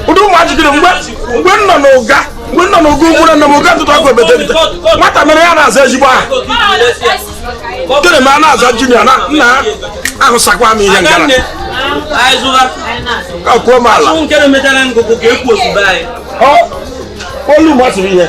ụdị ụmụaji gịrị mgbe mgbe m nọ n'ụga mgbe m nọ n'ụga amụrụ nna m ụga ntụtụ akụ ebetelete nwata mere ya na-aza ezigbo aha gịnị ma a na-aza junior na nna ahụsakwa m ihe ngara akwuo m ala olu masịrị ihe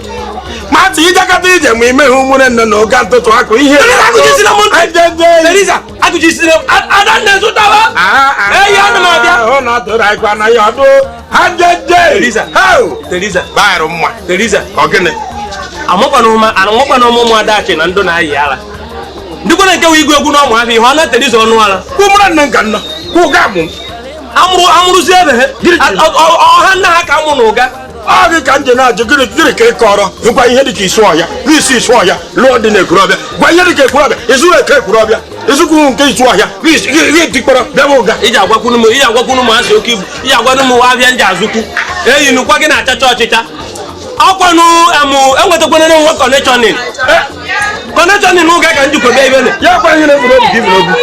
mati ijakata ije ma imeghe ụmụnne nne na ụga ntụtụ akụ ihe adanne zụtawa eyi ana m abịa ọ na-atụrụ anyị kwa na ya ọdụ ha jeje baịrụ mma ọ gịnị amakwana ụmụ adachi na ndụ na-ayị ala ndịkwana nke wee igwe egwu n'ọma ahịa ihe ọ na teresa ọnụ ala ụmụnne nne nka nna kwụ ụga amụrụ amụrụzi ebe ha ọha nna ha ka amụ na ụga ọ gị ka m ji na-ajụ gịnị gịnị ka ị kọrọ ngwa ihe dịka isu ọhịa n'isi isu ọhịa lụọ di na ekwurọbịa gwa ihe dịka ekwurọbịa ịsụrụ nke ekwurọbịa ịsụkwuru nke isu ọhịa ihe dịkpọrọ be m ụga iji agwakwunu m iji agwakwunu m asị oke ibu iji agwanụ m ahịa ndị azụkwu eyi nukwa gị na-achacha ọchịcha ọkwanụ amụ enwetakwana na nwa connection connection ụga ka njikọ bịa ibe na ya kwa ihe na-eburu obi gị iburu obi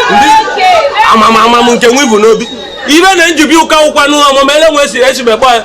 amamamam nke nwa ibu n'obi ibe na njibi ụka ụkwanụ ọmụma ele nwe si esi mekpọ ya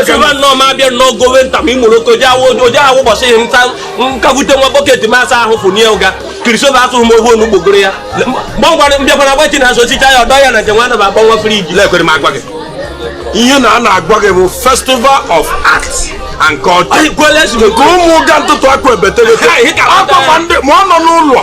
asaba nnọọ ma abịa nnọọ gowe nta ma imoloko oje awụ ụbọchị ihe nta nkagute nwa bucket ma asa ahụ fụnie ụga kirisoba asụghị m ogbe onu gbogoro ya gbọngwara mbịakwara agbachi na asochicha ya ọdọ ya na nke nwa anaba agba nwa fridge lekwere m agwa gị ihe na a na-agwa gị bụ festival of arts and culture nke ụmụ ụga ntụtụ akụ ebetelete akpakwa ndị ma ọ nọ n'ụlọ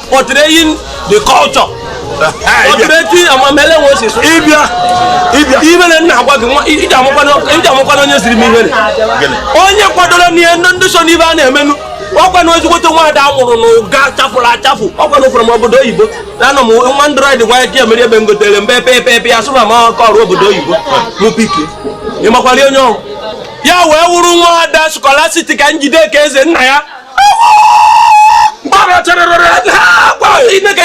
portraying the culture portraying amamele nwe si so ịbịa ịbịa ibere nna agwa gị nwa iji amụkwana iji amụkwana onye siri m ihere onye kwadoro n'ihe ndị ndị so n'ibe a na-emenụ ọkwa na ezigbote nwaada amụrụ na ụga chafụrụ achafụ ọkwa na ụfụrụ m obodo oyibo na anọ m nwa android nwa ike mere ebe m gotere mbe pe pe pe ya sụba ma ọkọ ọrụ obodo oyibo mụ pike ị makwara onye ọhụ ya wee wụrụ nwaada scholastica njideka eze nna ya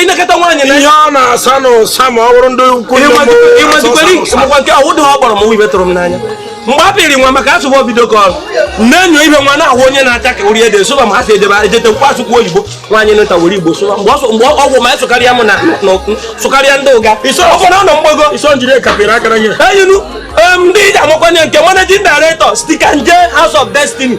inekata nwaanyị na ihe ọ na-asa na ụsa ma ọ bụrụ ndị ukwu ịmajikwara nke ọwụ dị ha kpọrọ m ibe tụrụ m n'anya mgbe a pịrị nwa maka asụbụ obido ka ọrụ na-enyo ibe nwa na-ahụ onye na-acha ka ori ede sụba ma ha si edebe ejete nkwa asụkwu oyibo nwaanyị nta were igbo sụba mgbe ọgwụ ma sụkarịa m na sụkarịa ndị ụga ụfọdụ ọnọ mgbago eyinu ndị iji amakwanye nke managing director stika nje house of destiny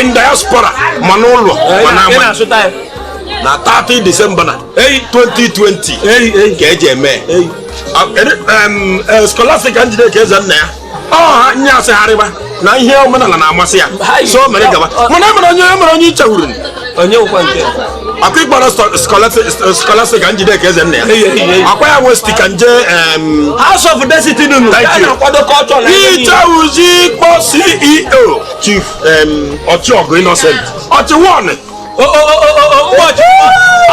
in diaspora ma n'ụlọ ma n'ama na 30 December na 2020 ka eji eme Scholastica Njideka Ezennaya ọha nye asịgharịba na ihe omenala na-amasị ya so mere gaba mana emere onye emere onye ichewuru akwa ịkpọrọ Scholastica Njideka Ezennaya ọkwa ya nwe Stica Nje House of Destiny nụ na-akwado culture ichewuzi kpọ CEO chief ọchịọgụ innocent ọchịwọnụ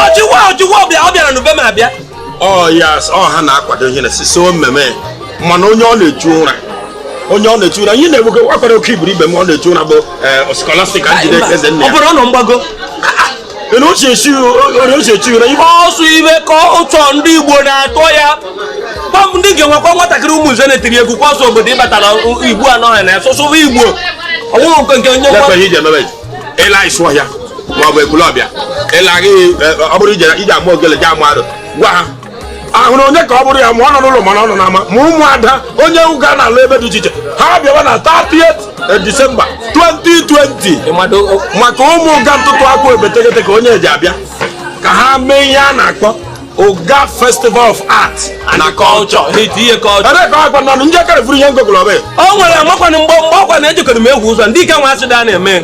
ọchịwa ọchịwa ọ bịara n'ube m abịa ọ yes ọ ha na-akwado ihe na so mmemme mana onye ọ na-echu ụra onye ọ na-echu ụra ihe na-egbugo akwara oke iburu ibe m ọ na-echu ụra bụ Scholastica Njideka Ezennaya ọ bụrụ ọ nọ mgbago na uche chighị na ihe ọsụ ibe ka ụtọ ndị Igbo na-atọ ya pam ndị ga-enwekwa nwatakịrị ụmụ nze na-etiri egwu kwa ọsọ obodo ịbata na Igbo anọghị na ya sụsụba Igbo ọnwụrụ nke nke onye Lekwa ihe iji emebe ịla Isuọhịa maọbụ Ekwulọbịa ịla gị ọ bụrụ ije ije ama ogele ji ama arụ gwa ha a hụrụ onye ka ọ bụrụ ya ma ọ nọ n'ụlọ mana ọ nọ n'ama ma ụmụada onye Ụga na-alụ ebe dị iche iche ha bịawa na 30 December 2020 maka ụmụ Ụga ntụtụ akwụ ebetegete ka onye eji abịa ka ha mee ihe a na-akpọ Ụga Festival of Art na Culture ebe ka agwa nọ njekere bụrụ ihe ngogolobe o nwere makwana mgbe mgbe ọkwa na ejikọrọ m egwu ụzọ ndị ike nwa asị da na-eme